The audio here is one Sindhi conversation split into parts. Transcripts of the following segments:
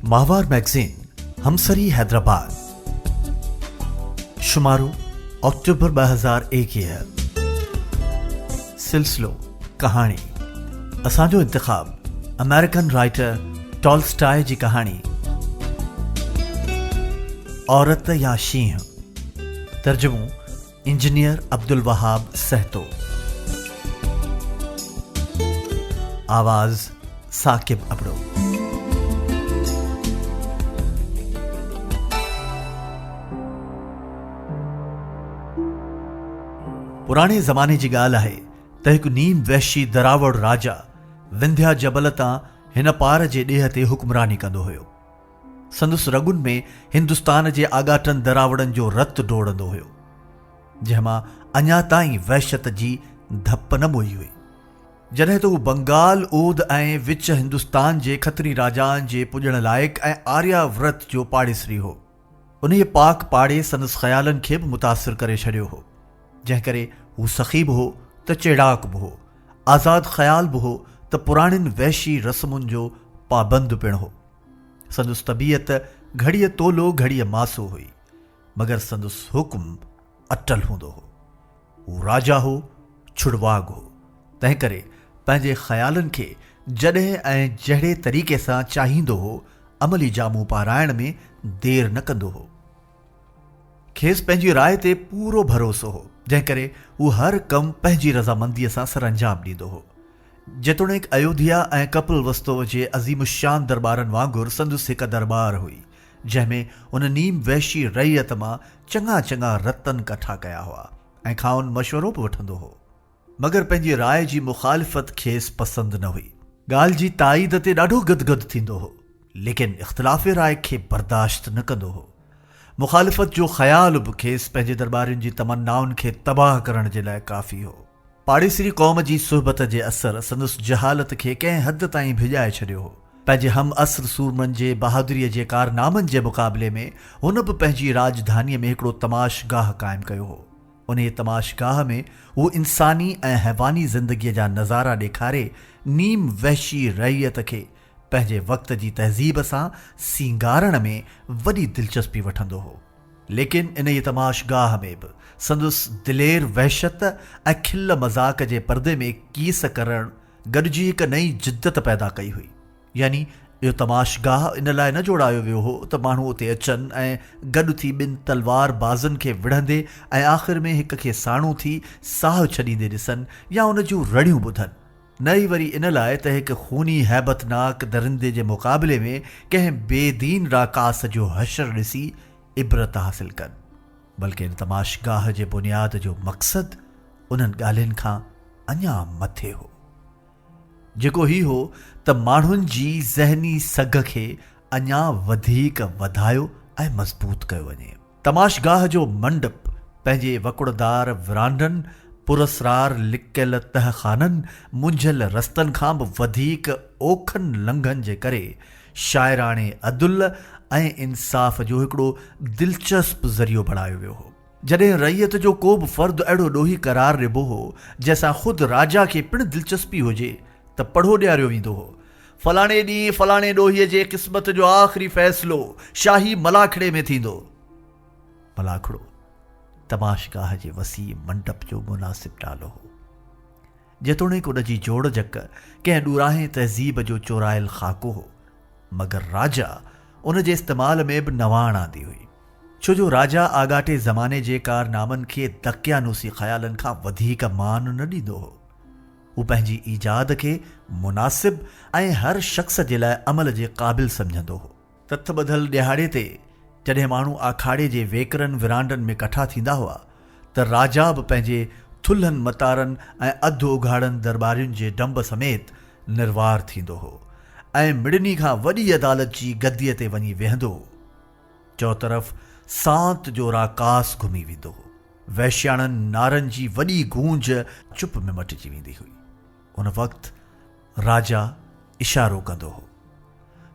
ماهوار مئگزين همسري حيدرآباد شمارو آڪٽوبر ٻه هزار ايڪيهه سلسلو ڪهاڻي اسان جو انتخاب امريڪن رائٽر ٽالسٽاء جي ڪهاڻي عورت يا شينهن ترجمو انجنيئر عبدالوهاب سهتو. آواز ثاقب ابڙو. پراڻي زماني جي ڳالهه آهي ته هڪ نيم وحشي دراوڙ راجا ونديا جبل تان هن پار جي ڏيهه تي حڪمراني ڪندو هيو. سندس رڳن ۾ هندستان جي آڳاٽن دراوڙن جو رت ڊوڙندو هيو، جنهن مان اڃا تائين وحشت جي ڌپ نه موئي هئي. جڏهن ته هو بنگال، اود ۽ وچ هندستان جي کتري راجائن جي پوڄڻ لائق ۽ آريا ورت جو پاڙيسري هو. انهيء پاڪ پاڙي سندس خيالن کي به متاثر ڪري ڇڏيو هو، جنهن ڪري هو سخي به هو ته چيڙاڪ به هو، آزاد خيال به هو ته پراڻين وحشي رسمن جو پابند پڻ هو. سندس طبيعت گهڙيء تولو گهڙيء ماسو هئي، مگر سندس حڪم اٽل هوندو هو. هو راجا هو، ڇڙواڳ هو، تنهنڪري پنهنجي خيالن کي جڏهن ۽ جهڙي طريقي سان چاهيندو هو، عملي جامو پارائڻ ۾ دير نه ڪندو هو. کيس پنهنجي راء تي پورو ڀروسو هو، جنهنڪري هو هر ڪم پنهنجي رضامنديء سان سرانجام ڏيندو هو. جيتوڻيڪ ايوڌيا ۽ ڪپل وستو جي عظيم الشان درٻارن وانگر سندس هڪ درٻار هئي، جنهن ۾ هن نيم وحشي رعيت مان چڱا چڱا رتن ڪٺا ڪيا هئا ۽ کانئن مشورو به وٺندو هو. مگر پنهنجي راء جي مخالفت کيس پسند نه هئي. ڳالهه جي تائيد تي ڏاڍو گدگد ٿيندو هو، ليڪن اختلاف راء کي برداشت نه ڪندو هو. مخالفت جو خيال به کيس پنهنجي درٻارين جي تمنائن کي تباهه ڪرڻ جي لاء ڪافي هو. پاڙيسري قوم جي صحبت جي اثر سندس جهالت کي ڪنهن حد تائين ڀڄائي ڇڏيو هو. پنهنجي هم عصر سورمن جي بهادريء جي ڪارنامن جي مقابلي ۾ هن به پنهنجي راڄڌانيء ۾ هڪڙو تماش گاهه قائم ڪيو هو. انهيء تماش گاهه ۾ هو انساني ۽ حيواني زندگيء جا نظارا ڏيکاري نيم وحشي رعيت کي پنهنجي وقت جي تهذيب سان سينگارڻ ۾ وڏي دلچسپي وٺندو هو. ليڪن انهيء تماشگاهه ۾ به سندس دلير وحشت ۽ کل مذاق جي پردي ۾ ڪيس ڪرڻ گڏجي هڪ نئين جدت پيدا ڪئي هئي. يعني اهو تماشگاهه ان لاء نه جوڙايو ويو هو ته ماڻهو اتي اچن ۽ گڏ ٿي ٻن تلوار بازن کي وڙهندي ۽ آخر ۾ هڪ کي ساڻو ٿي ساهه ڇڏيندي ڏسن يا ان جون رڙيون ٻڌن. نه ئي وري ان لاء ته هڪ خوني هيبتناڪ درندي جي مقابلي ۾ ڪنهن بي دين راڪاس جو حشر ڏسي عبرت حاصل ڪن، بلڪه ان تماشگاهه جي بنياد جو مقصد انهن ڳالهين کان اڃا مٿي هو، جيڪو هي هو ته ماڻهن جي ذهني سگهه کي اڃا وڌيڪ وڌايو ۽ مضبوط ڪيو وڃي. تماشگاهه جو منڊپ پنهنجي وڪڙدار ورانڊن، پراسرار لڪيل تهه خانن، منجهيل رستن کان به وڌيڪ اوکن لنگهن جي ڪري شاعراڻي عدل ۽ انصاف جو هڪڙو دلچسپ ذريعو بڻايو ويو هو. جڏهن رعيت جو ڪو به فرد اهڙو ڏوهي قرار ڏبو هو، جنهن سان خود راجا کي پڻ دلچسپي هجي ته پڙهو ڏياريو ويندو هو. فلاڻي ڏينهن فلاڻي ڏوهي جي قسمت جو آخري فيصلو شاهي ملاکڙي ۾ ٿيندو. ملاکڙو تماشگاهه جي وسيع منڊپ جو مناسب نالو هو. جيتوڻيڪ ان جي جوڙ جڪ ڪنهن ڏوراهين تهذيب جو چورايل خاڪو هو، مگر راجا ان جي استعمال ۾ به نواڻ آندي هئي، ڇو جو راجا آڳاٽي زماني جي ڪارنامن کي دقيانوسي خيالن کان وڌيڪ مان نه ڏيندو هو. هو پنهنجي ايجاد کي مناسب ۽ هر شخص جي لاء عمل جي قابل سمجهندو هو. تٿ ٻڌل ڏيهاڙي تي جڏهن ماڻهو آکاڙي جي ويڪرن ورانڊن ۾ ڪٺا ٿيندا هئا ته راجا به پنهنجي ٿلهن متارن ۽ اڌ اگهاڙن درٻارين جي ڊنب سميت نروار ٿيندو هو ۽ مڙني کان وڏي عدالت جي گديء تي وڃي ويهندو چؤطرف سانت جو راڪاس گهمي ويندو هو. وحشياڻن نعرن جي وڏي گونج چپ ۾ مٽجي ويندي هئي. ان وقت راجا اشارو ڪندو هو.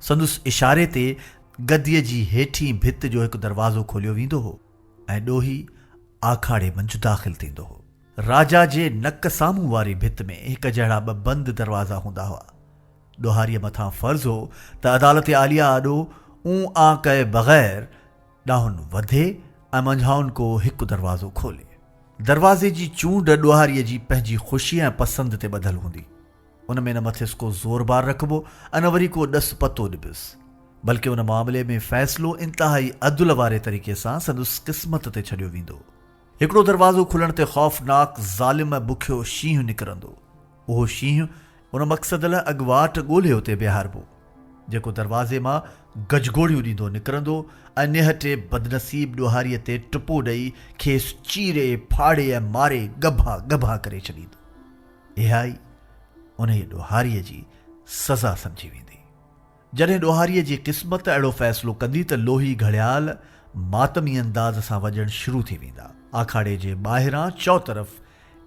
سندس اشاري تي گديء جي هيٺين ڀت جو هڪ دروازو کوليو ويندو هو ۽ ڏوهي آکاڙي منجھ داخل ٿيندو هو. راجا جي نڪ سامهون واري ڀت ۾ هڪجهڙا ٻه بند دروازا هوندا هئا. ڏوهاريء مٿان فرض هو ته عدالت عاليه آڏو اون آ ڪئي بغير ڏانهن وڌي ۽ منجهائن ڪو هڪ دروازو کولي. دروازي جي چونڊ ڏوهاريء جي پنهنجي خوشيء ۽ پسند تي ٻڌل هوندي. ان ۾ نه مٿس ڪو زور بار رکبو ۽ نه وري ڪو ڏس پتو ڏبس. بلڪه ان معاملي ۾ فيصلو انتهائي عدل واري طريقي سان سندس قسمت تي ڇڏيو ويندو. هڪڙو دروازو کلڻ تي خوفناڪ، ظالم ۽ بکيو شينهن نڪرندو. اهو شينهن ان مقصد لاء اڳواٽ ڳولهي اتي بيهاربو، جيڪو دروازي مان گجگوڙيون ڏيندو نڪرندو ۽ نهٽي بدنصيب ڏوهاريء تي ٽپو ڏئي کيس چيري، ڦاڙي ۽ ماري ڳڀا ڳڀا ڪري ڇڏيندو. اهائي انهيء ڏوهاريء جي سزا سمجهي ويندي. جڏهن ڏوهاريء جي قسمت اهڙو فيصلو ڪندي ته لوهي گهڙيال ماتمي انداز سان وڄڻ شروع ٿي ويندا. آکاڙي جي ٻاهران چؤطرف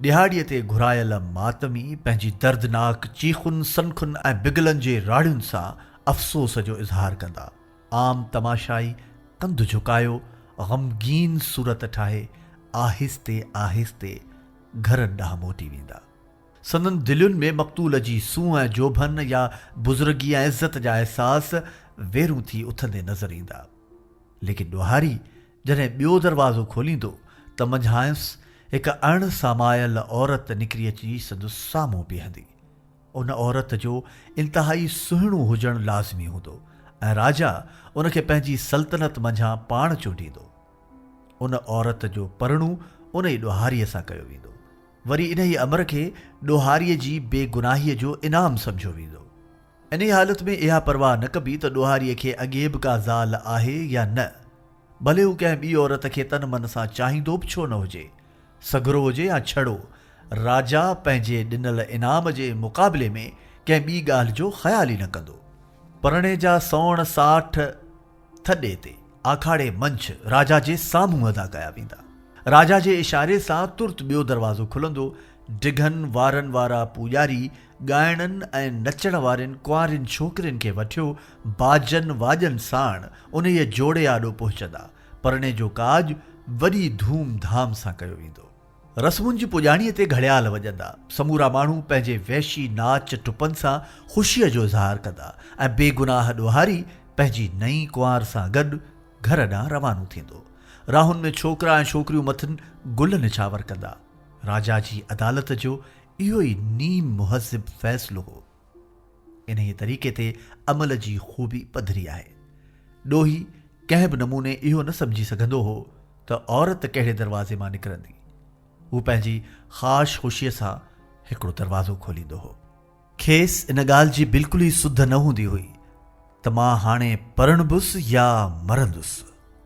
ڏهاڙيء تي گهرايل ماتمي پنهنجي دردناڪ چيخن، سنکن ۽ بگلن جي راڙهين سان افسوس جو اظهار ڪندا. عام تماشائي ڪنڌ جهڪايو غمگين صورت ٺاهي آهستي آهستي گهرن ڏانهن موٽي ويندا. سندن دلين ۾ مقتول جي سونهن ۽ جوڀن يا بزرگيء ۽ عزت جا احساس ويرون ٿي اٿندي نظر ايندا. ليڪن ڏوهاري جڏهن ٻيو دروازو کوليندو ته منجهانئس هڪ اڻ سامايل عورت نڪري اچي سندس سامهون بيهندي. ان عورت جو انتهائي سهڻو هجڻ لازمي هوندو ۽ راجا ان کي پنهنجي سلطنت منجهان پاڻ چونڊيندو. ان عورت جو پرڻو ان ئي ڏوهاريء سان ڪيو ويندو. وري انهيء امر کي ڏوهاريء جي بي گناهيء جو انعام سمجهيو ويندو. انهيء حالت ۾ اها پرواهه نه ڪبي ته ڏوهاريء کي اڳي به ڪا زال آهي يا نه. ڀلي هو ڪنهن ٻي عورت کي تن من سان چاهيندو به ڇو نه هجي، سگهرو هجي يا ڇڙو، راجا پنهنجي ڏنل انعام جي مقابلي ۾ ڪنهن ٻي ڳالهه جو خيال ئي نه ڪندو. پرڻي جا سوڻ ساٺ ٿڏي تي آکاڙي منجھ راجا جي سامھون ادا ڪيا ويندا. راجا جي اشاري سان ترت ٻيو دروازو کلندو، ڊگھن وارن وارا پوڄاري ڳائڻن ۽ نچڻ وارين ڪنوارين ڇوڪرين کي وٺيو باجن واڄن ساڻ انھيء جوڙي آڏو پهچندا، پرڻي جو ڪاڄ وڏي ڌوم ڌام سان ڪيو ويندو. رسمن جي پڄاڻيء تي گهڙيال وڄندا، سمورا ماڻهو پنهنجي وحشي ناچ ٽپن سان خوشيء جو اظهار ڪندا ۽ بي گناهه ڏوهاري پنهنجي نئين ڪنوار سان گڏ گهر ڏانهن روانو ٿيندو. راهن ۾ ڇوڪرا ۽ ڇوڪريون مٿن گل نڇاور ڪندا. راجا جي عدالت جو اهو ئي نيم مهذب فيصلو هو. انهيء طريقي تي عمل جي خوبي پڌري آهي. ڏوهي ڪنهن به نموني اهو نه سمجهي سگهندو هو ته عورت ڪهڙي دروازي مان نڪرندي. هو پنهنجي خاش خوشيء سان هڪڙو دروازو کوليندو هو. کيس ان ڳالهه جي بلڪل ئي سڌ نه هوندي هئي. ته مان هاڻي پرڻبس يا مرندس.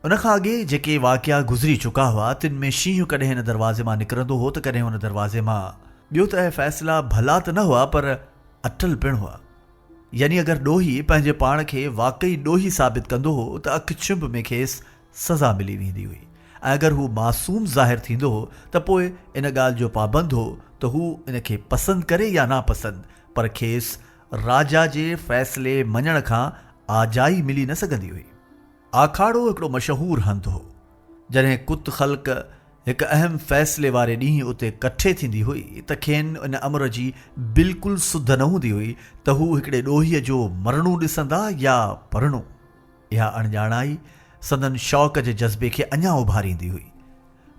ان کان اڳي جيڪي واقعا گذري چڪا هئا، تن ۾ شينهن ڪڏهن هن دروازي مان نڪرندو هو ته ڪڏهن هن دروازي مان. ٻيو ته اهي فيصلا ڀلا ته نه هئا پر اٽل پڻ هئا. يعني اگر ڏوهي پنهنجي پاڻ کي واقعي ڏوهي ثابت ڪندو هو ته اک ڇنڀ ۾ کيس سزا ملي ويندي هئي ۽ اگر هو معصوم ظاهر ٿيندو هو ته پوء ان ڳالهه جو پابند هو ته هو ان کي پسند ڪري يا ناپسند پر کيس راجا جي فيصلي مڃڻ کان آجائي ملي نه سگهندي هئي. آکاڙو هڪڙو مشهور هنڌ هو. جڏهن ڪت خلق هڪ اهم فيصلي واري ڏينهن اتي ڪٺي ٿيندي هئي ته کين ان امر جي بلڪل سڌ نه هوندي هئي ته هو هڪڙي ڏوهيء جو مرڻو ڏسندا يا پرڻو. اها اڻڄاڻائي سندن شوق جي جذبي کي اڃا اڀاريندي هئي.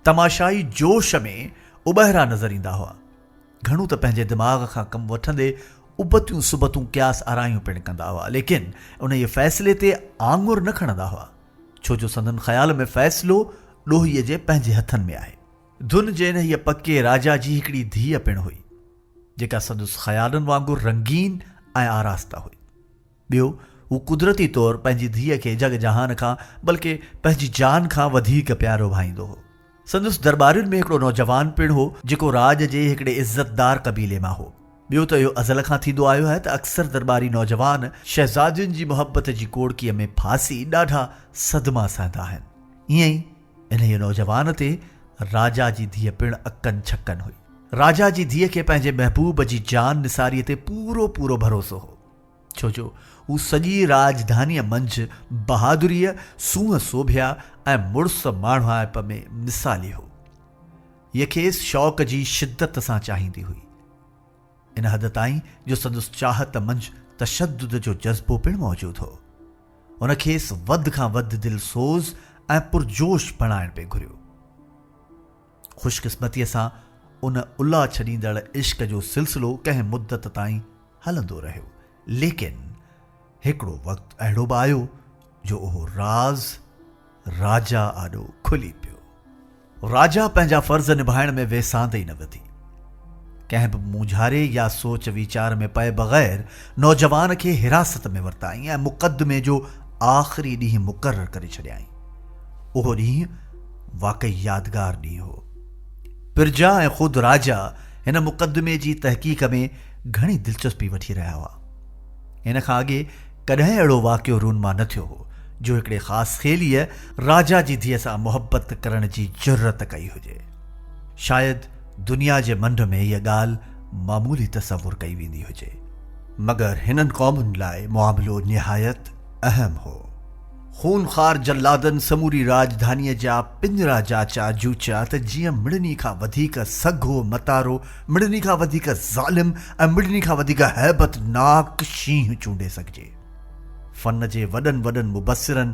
تماشائي جوش ۾ اٻهرا نظر ايندا هئا. گهڻو ته پنهنجي دماغ کان ڪم وٺندي ابتيون سبتون قياس آرايون پڻ ڪندا هئا ليڪن انهيء فيصلي تي آڱر نه کڻندا هئا ڇو جو سندن خيال ۾ فيصلو ڏوهيء جي پنهنجي هٿن ۾ آهي. ڌن جي انهيء پڪي راجا جي هڪڙي ڌيء پڻ هئي جيڪا سندس خيالن وانگر رنگين ۽ آراسته هئي. ٻيو، هو قدرتي طور پنهنجي ڌيء کي جڳ جهان کان بلڪ پنهنجي جان کان وڌيڪ پيارو ڀائيندو هو. سندس درٻارين ۾ هڪڙو نوجوان پڻ هو، جيڪو راڄ جي هڪڙي عزتدار قبيلي مان هو. ٻيو ته اهو ازل کان ٿيندو آيو آهي ته اڪثر درٻاري نوجوان شهزادين جي محبت جي ڪوڙڪيء ۾ ڦاسي ڏاڍا صدما سهندا آهن. ايئن ئي انهيء نوجوان تي راجا جي ڌيء پڻ اڪن ڇڪن هئي. راجا جي ڌيء کي پنهنجي محبوب جي جان نثاريء تي پورو پورو ڀروسو هو. ڇو جو هو سڄيء راڄڌانيء منجهه بهادريء، سونهن سوڀيا ۽ مڙس ماڻهائپ ۾ مثالي هو. هيء کيس شوق جي شدت سان چاهيندي هئي. ان حد تائين جو سندس چاهت منجهه تشدد جو جذبو پڻ موجود هو. هن کيس وڌ کان وڌ دلسوز ۽ پرجوش بڻائڻ پئي گهريو. خوشقسمتيء سان ان الا ڇڏيندڙ عشق جو سلسلو ڪنهن مدت تائين هلندو رهيو، ليڪن هڪڙو وقت اهڙو به آيو جو اهو راز راجا آڏو کلي پيو. راجا پنهنجا فرض نڀائڻ ۾ ويساهه ئي نه وڌي. ڪنهن به مونجهاري يا سوچ ويچار ۾ پئي بغير نوجوان کي حراست ۾ ورتائين ۽ مقدمي جو آخري ڏينهن مقرر ڪري ڇڏيائين. اهو ڏينهن واقعي يادگار ڏينهن هو. پرجا ۽ خود راجا هن مقدمي جي تحقيق ۾ گهڻي دلچسپي وٺي رهيا هئا. هن کان اڳي ڪڏهن اهڙو واقعو رونما نه ٿيو هو جو هڪڙي خاص خيليء راجا جي ڌيء سان محبت ڪرڻ جي جرئت ڪئي هجي. شايد دنيا جي منڍ ۾ هيء ڳالهه معمولي تصور ڪئي ويندي هجي، مگر هنن قومن لاء معاملو نهايت اهم هو. خون خوار جلادن سموري راڄڌانيء جا پڃرا جاچيا جوچيا ته جيئن مڙني کان وڌيڪ سگهو متارو، مڙني کان وڌيڪ ظالم ۽ مڙني کان وڌيڪ هيبت ناڪ شينهن چونڊي سگهجي. فن جي وڏن وڏن مبصرن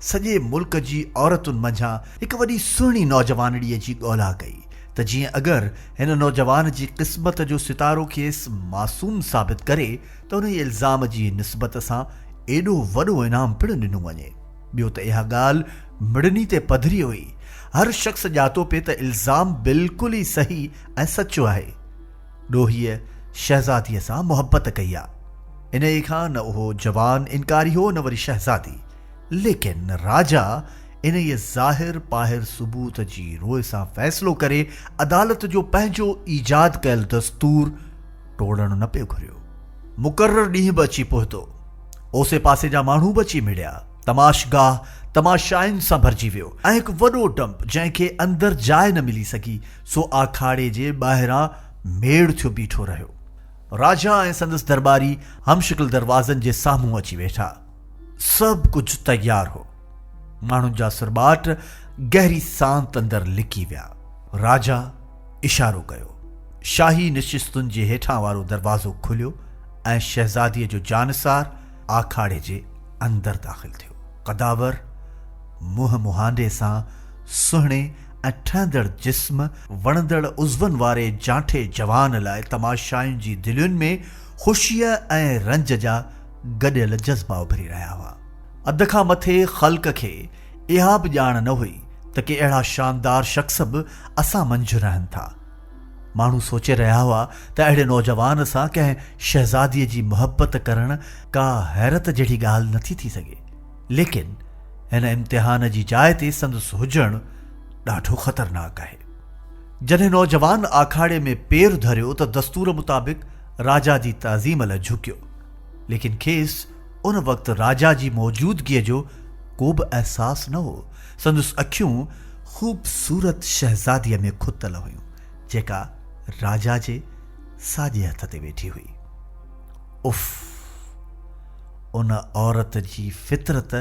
سڄي ملڪ جي عورتن منجهان هڪ وڏي سهڻي نوجوانڙيء جي ڳولا ڪئي، ته جيئن اگر هن نوجوان جي قسمت جو ستارو کيس معصوم ثابت ڪري ته انهي الزام جي نسبت سان ايڏو وڏو انعام پڻ ڏنو وڃي. ٻيو ته اها ڳالهه مڙني تي پڌري هئي. هر شخص ڄاتو پئي ته الزام بلڪل ئي صحيح ۽ سچو آهي. ڏوهيء شهزاديء سان محبت ڪئي آ. انهيء کان نه اهو جوان انڪاري هو نه وري شهزادي. ليڪن راجا انهيء ظاهر پاهر ثبوت جي روء سان فيصلو ڪري عدالت جو پنهنجو ايجاد ڪيل دستور ٽوڙڻ نه پيو گهريو. مقرر ڏينهن به اچي پهتو. اوسي پاسي جا ماڻهو به اچي مڙيا. تماشگاهه تماشائين سان ڀرجي ويو ۽ هڪ وڏو ڊنپ جنهن کي اندر جاء نه ملي سگهي سو آکاڙي جي ٻاهران ميڙ ٿيو بيٺو رهيو. راجا ۽ سندس درٻاري همشڪل دروازن جي سامهون اچي ويٺا. سڀ ڪجهه تيار هو. ماڻهن جا سرٻاٽ گهري سانت اندر لڪي ويا. راجا اشارو ڪيو. شاهي نشستن جي هيٺان وارو دروازو کليو ۽ شهزاديء جو جانثار آکاڙي جي اندر داخل ٿيو. قداور منهن مهانڊي سان سهڻي ۽ ٺهندڙ جسم، وڻندڙ عضون واري جانٺي جوان لاء تماشائين جي دلين ۾ خوشيء ۽ رنج جا گڏيل جذبا اڀري رهيا هئا. اڌ کان مٿي خلق کي اها به ڄاڻ نه هئي ته ڪي اهڙا شاندار شخص به اسان منجهه رهن ٿا. ماڻهو سوچي رهيا هئا ته اهڙي نوجوان سان ڪنهن شهزاديء جي محبت ڪرڻ ڪا حيرت جهڙي ڳالهه نٿي ٿي سگهي، ليڪن هن امتحان جي جاء تي سندس هجڻ ڏاڍو خطرناڪ آهي. جڏهن نوجوان آکاڙي ۾ پير ڌريو ته دستور مطابق راجا جي تعظيم لاء جهڪيو، ليڪن کيس ان وقت راجا جي موجودگيء جو ڪوبه احساس نه هو، سندس اکيون خوبصورت شهزاديء ۾ کتل هيون، جيڪا راجا جي ساڄي هٿ تي ويٺي هئي. اف! ان عورت جي فطرت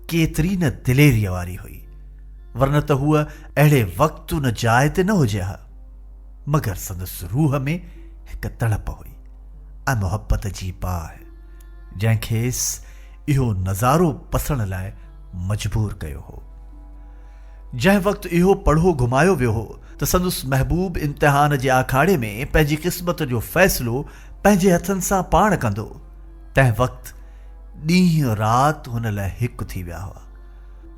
ڪيتري نه دليريء واري هئي، ورنه ته هوء اهڙي وقت ان جاء تي نه هجي ها. مگر سندس روح ۾ هڪ تڙپ هئي ۽ محبت جي باهه، جنهن کيس اهو نظارو پسڻ لاء مجبور ڪيو هو. جنهن وقت اهو پڙهو گهمايو ويو هو ته سندس محبوب امتحان جي آکاڙي ۾ پنهنجي قسمت جو فيصلو پنهنجي هٿن سان پاڻ ڪندو، تنهن وقت ڏينهن رات هن لاء هڪ ٿي ويا هئا.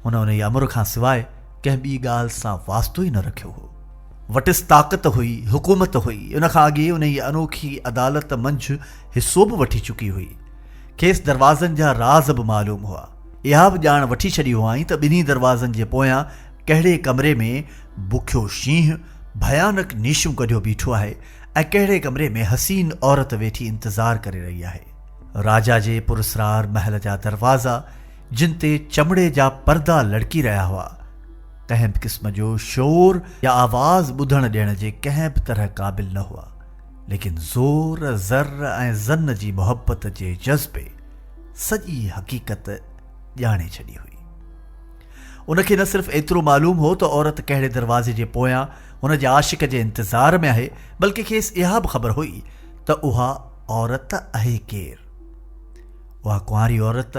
هن انهيء امر کان سواء ڪنهن ٻي ڳالهه سان واسطو ئي نه رکيو هو. وٽس طاقت هئي، حڪومت هئي، ان کان اڳي انهيء انوکي عدالت منجهه حصو به وٺي چڪي هئي. کيس دروازن جا راز به معلوم هئا. اها به ڄاڻ وٺي ڇڏي هئائين ته ٻنهي دروازن جي پويان ڪهڙي ڪمري ۾ بکيو شينهن ڀيانڪ نيشون ڪڍيو بيٺو آهي ۽ ڪهڙي ڪمري ۾ حسين عورت ويٺي انتظار ڪري رهي آهي. راجا جي پراسرار محل جا دروازا، جن تي چمڙي جا پردا لڙڪي رهيا هئا، ڪنهن به قسم جو شور يا آواز ٻڌڻ ڏيڻ جي ڪنهن به طرح قابل نه هئا، ليڪن زور، زر ۽ زن جي محبت جي جذبي سڄي حقيقت ڄاڻي ڇڏي هئي. ان کي نه صرف ايترو معلوم هو ته عورت ڪهڙي دروازي جي پويان هن جي عاشق جي انتظار ۾ آهي، بلڪه کيس اها به خبر هئي ته اها عورت اهي ڪير؟ اها ڪنواري عورت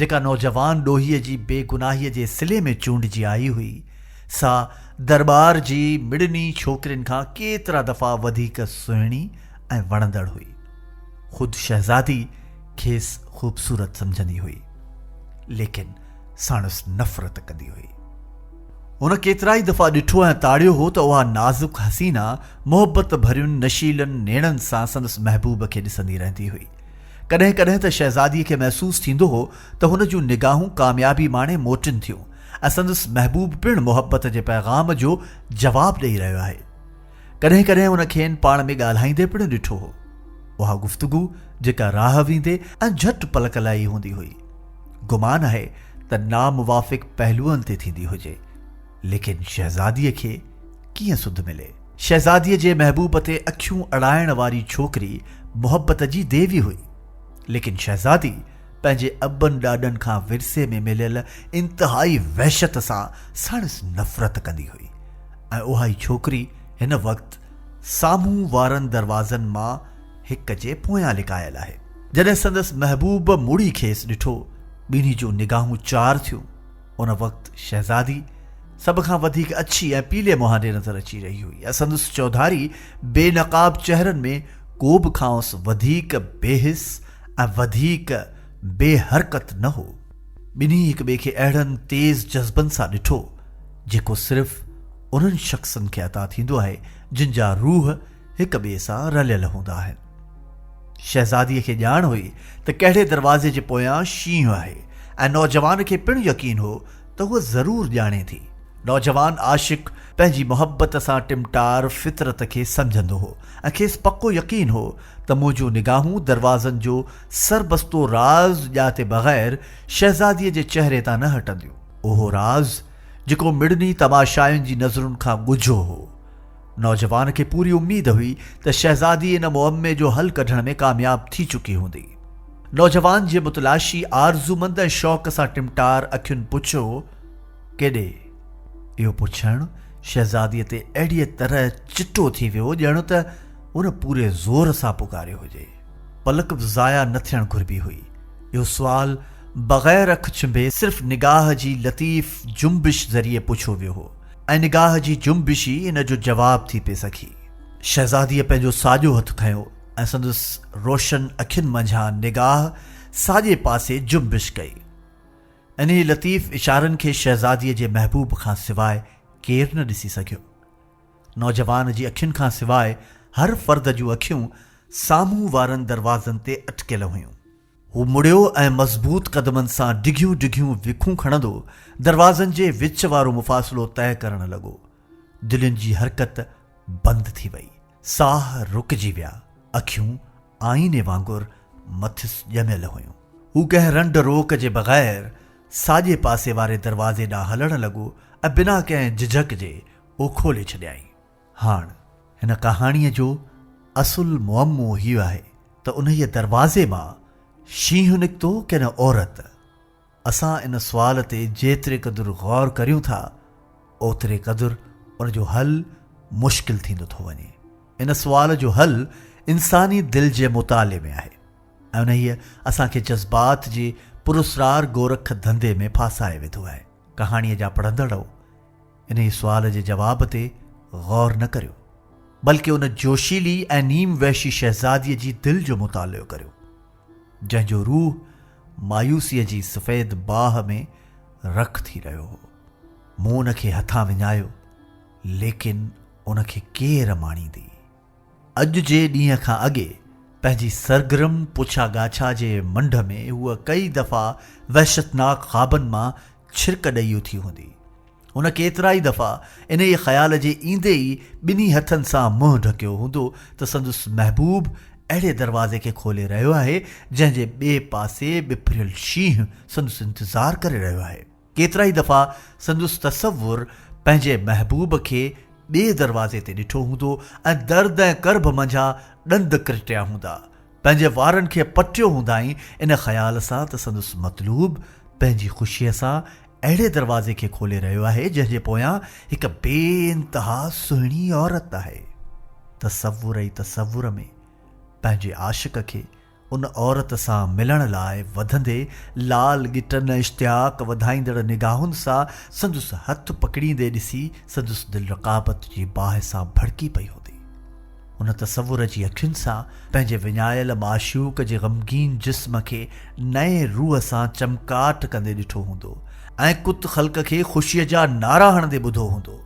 جيڪا نوجوان ڏوهيء جي بي گناهيء جي صلي ۾ چونڊجي آئي هئي، سا درٻار جي مڙني ڇوڪرين کان ڪيترا دفعا وڌيڪ سهڻي ۽ وڻندڙ هئي. خود شهزادي کيس خوبصورت سمجهندي هئي، ليڪن ساڻس نفرت ڪندي هئي. هن ڪيترائي دفعا ڏٺو ۽ تاڙيو هو ته اها نازڪ حسينا محبت ڀرين نشيلن نيڻن سان سندس محبوب کي ڏسندي رهندي هئي. ڪڏهن ڪڏهن ته شهزاديء کي محسوس ٿيندو هو ته هن جون نگاهون ڪاميابي ماڻي موٽين ٿيون ۽ سندس محبوب پڻ محبت جي پيغام جو جواب ڏئي رهيو آهي. ڪڏهن ڪڏهن هن کين پاڻ ۾ ڳالهائيندي پڻ ڏٺو هو. اها گفتگو جيڪا راهه ويندي ۽ جهٽ پلڪ لائي هوندي هئي. گمان آهي ته ناموافق پهلوئن تي ٿيندي هجي. ليڪن شهزاديء کي ڪيئن سڌ ملي؟ شهزاديء جي محبوب تي اکيون اڙائڻ واري ڇوڪري محبت جي ديوي هئي، ليڪن شهزادي پنهنجي ابن ڏاڏن کان ورثي ۾ مليل انتهائي وحشت سان ساڻس نفرت ڪندي هئي ۽ اهائي ڇوڪري هن وقت سامهون وارن دروازن مان هڪ جي پويان لڪايل آهي. جڏهن سندس محبوب مڙي کيس ڏٺو، ٻنهي جون نگاهون چار ٿيون. ان وقت شهزادي سڀ کان وڌيڪ اڇي ۽ پيلي مهانڊي نظر اچي رهي هئي ۽ سندس چوڌاري بي نقاب چهرن ۾ ڪو به کانئس وڌيڪ بي حس ۽ وڌيڪ بي حرڪت نه هو ٻنهي هڪ ٻئي کي اهڙن تيز جذبن سان ڏٺو جيڪو صرف انهن شخصن کي عطا ٿيندو آهي جن جا روح هڪ ٻئي سان رليل هوندا آهن. شهزاديء کي ڄاڻ هئي ته ڪهڙي دروازي جي پويان شينهن آهي ۽ نوجوان کي پڻ يقين هو ته هوء ضرور ڄاڻي ٿي. نوجوان عاشق پنهنجي محبت سان ٽمٽار فطرت کي سمجهندو هو ۽ کيس پڪو يقين هو ته منهنجون نگاهون دروازن جو سربستو راز ڄاتي بغير شهزاديء جي چهري تان نه هٽنديون. اهو راز جيڪو مڙني تماشائين جي نظرن کان ڳجهو هو. نوجوان کي پوري اميد هئي ته شهزادي ان معمي جو حل ڪڍڻ ۾ ڪامياب ٿي چڪي هوندي. نوجوان جي متلاشي آرزومند ۽ شوق سان ٽمٽار اکين پڇيو، ڪيڏي؟ اهو پڇڻ شهزاديء تي اهڙيء طرح چٽو ٿي ويو ڄڻ ته هن پوري زور سان پڪاريو هجي. پلڪ به ضايع نه ٿيڻ گهربي هئي. اهو سوال بغير اک ڇنڀي صرف نگاهه جي لطيف جنبش ذريعي پڇيو ويو هو. ۽ نگاهه جي جنبش ئي ان جو جواب ٿي پئي سگهي. شهزاديء پنهنجو ساڄو هٿ کنيو ۽ سندس روشن اکين منجهان نگاهه ساڄي پاسي جنبش ڪئي. انهيء لطيف اشارن کي شهزاديء جي محبوب کان سواء ڪير نه ڏسي سگهيو. نوجوان جي اکين کان سواء هر فرد جون اکيون سامهون وارن دروازن تي اٽڪيل هيون. هو مڙيو ۽ مضبوط قدمن سان ڊگهيون ڊگهيون وکون کڻندو دروازن جي وچ وارو مفاصلو طئي ڪرڻ لڳو. دلين جي حرڪت بند ٿي وئي. ساهه رڪجي ويا. اکيون آئيني وانگر مٿس ڄميل هيون. هو ڪنهن رنڊ روڪ جي بغير ساڄي پاسي واري دروازي ڏانهن هلڻ لڳو ۽ بنا ڪنهن جھجھڪ جي اهو کولي ڇڏيائين. هاڻ هن ڪهاڻيء جو اصل معمو هيء آهي ته انهيء دروازي مان شينهن نڪتو ڪي نه عورت؟ اسان ان سوال تي جيتري قدر غور ڪريون ٿا، اوتري قدر ان جو حل مشڪل ٿيندو ٿو وڃي. ان سوال جو حل انساني دل جي مطالعي ۾ آهي ۽ انهيء اسان کي جذبات جي پراسرار گورک ڌنڌي ۾ ڦاسائي وڌو آهي. ڪهاڻيء جا پڙهندڙؤ! انهيء سوال جي جواب تي غور نه ڪريو، بلڪ ان جوشيلي ۽ نيم وحشي شهزاديء جي دل جو مطالعو ڪريو، جنهن جو روح مايوسيء جي سفيد باهه ۾ رک ٿي رهيو هو. مون ان کي هٿان وڃايو، ليڪن ان کي ڪير ماڻيندي؟ اڄ جي ڏينهن کان اڳي پنهنجي سرگرم پڇا ڳاڇا جي منڍ ۾ هوء ڪئي دفعا وحشتناڪ خوابن مان ڇرڪ ڏئي اٿي هوندي. هن ڪيترائي دفعا انهيء خيال جي ايندي ئي ٻنهي هٿن سان منهن ڍڪيو هوندو ته سندس محبوب اهڙي دروازي کي کولي رهيو آهي جنهن جي ٻئي پاسي ٻڦريل شينهن سندس انتظار ڪري رهيو آهي. ڪيترائي دفعا سندس تصور پنهنجي محبوب کي ٻئي دروازي تي ڏٺو هوندو ۽ درد ۽ ڪرڀ منجها ڏند ڪرٽيا هوندا، پنهنجي وارن کي پٽيو هوندائين ان خيال سان ته سندس مطلوب پنهنجي خوشيء سان اهڙي دروازي کي کولي رهيو آهي جنهن جي پويان هڪ بي انتها سهڻي عورت آهي. تصور ئي تصور ۾ پنهنجي عاشق کي ان عورت سان ملڻ لاء وڌندي لال ڳٽن ۽ اشتياق وڌائيندڙ نگاهن سان سندس هٿ پڪڙيندي ڏسي سندس دل رقابت جي باهه سان ڀڙڪي پئي هوندي. ان تصور جي اکين سان پنهنجي وڃايل معشوق جي غمگين جسم کي نئين روح سان چمڪاٽ ڪندي ڏٺو هوندو ۽ ڪت خلق کي خوشيء جا نعرا هڻندي ٻڌو هوندو.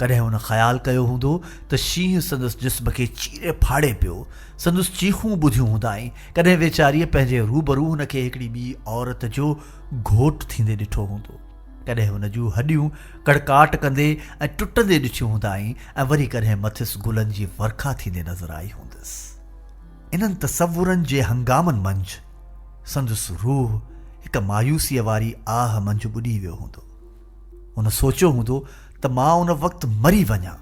ڪڏهن هن خيال ڪيو هوندو ته شينهن سندس جسم کي چيري ڦاڙي پيو، سندس چيخون ٻڌيون هوندائين، ڪڏهن ويچاريء پنهنجي روبرو هن کي هڪڙي ٻي عورت جو گهوٽ ٿيندي ڏٺو هوندو، ڪڏهن هن جون هڏيون ڪڙڪاٽ ڪندي ۽ ٽٽندي ڏٺيون هوندائين ۽ وري ڪڏهن مٿس گلن جي ورکا ٿيندي نظر آئي هوندس. انهن تصورن جي هنگامن منجهه سندس روح هڪ مايوسيء واري آهه منجهه ٻڏي ويو هوندو. هن سوچيو هوندو ته مان ان وقت مري وڃان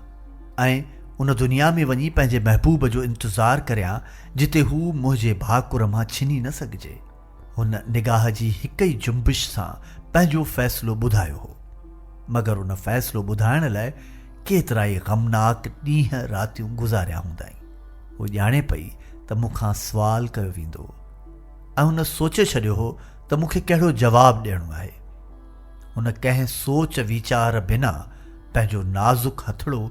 ۽ ان دنيا ۾ وڃي پنهنجي محبوب جو انتظار ڪريان جتي هو منهنجي ڀاڪر مان ڇني نه سگهجي هن نگاهه جي هڪ ئي جنبش سان پنهنجو فيصلو ٻڌايو هو مگر ان فيصلو ٻڌائڻ لاء ڪيترائي غمناڪ ڏينهن راتيون گذاريا هوندائين هو ڄاڻي پئي ته مون کان سوال ڪيو ويندو ۽ هن سوچي ڇڏيو هو ته مون کي ڪهڙو جواب ڏيڻو آهي هن ڪنهن سوچ ويچار بنا پنهنجو نازڪ هٿڙو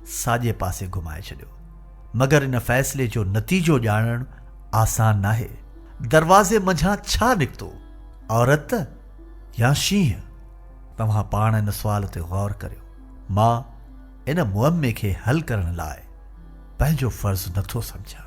ساڄي پاسي گهمائي ڇڏيو. مگر ان فيصلي جو نتيجو ڄاڻڻ آسان ناهي. دروازي منجهان ڇا نڪتو؟ عورت يا شينهن؟ توهان پاڻ ان سوال تي غور ڪريو. مان ان معمي کي حل ڪرڻ لاء پنهنجو فرض نه ٿو سمجهان.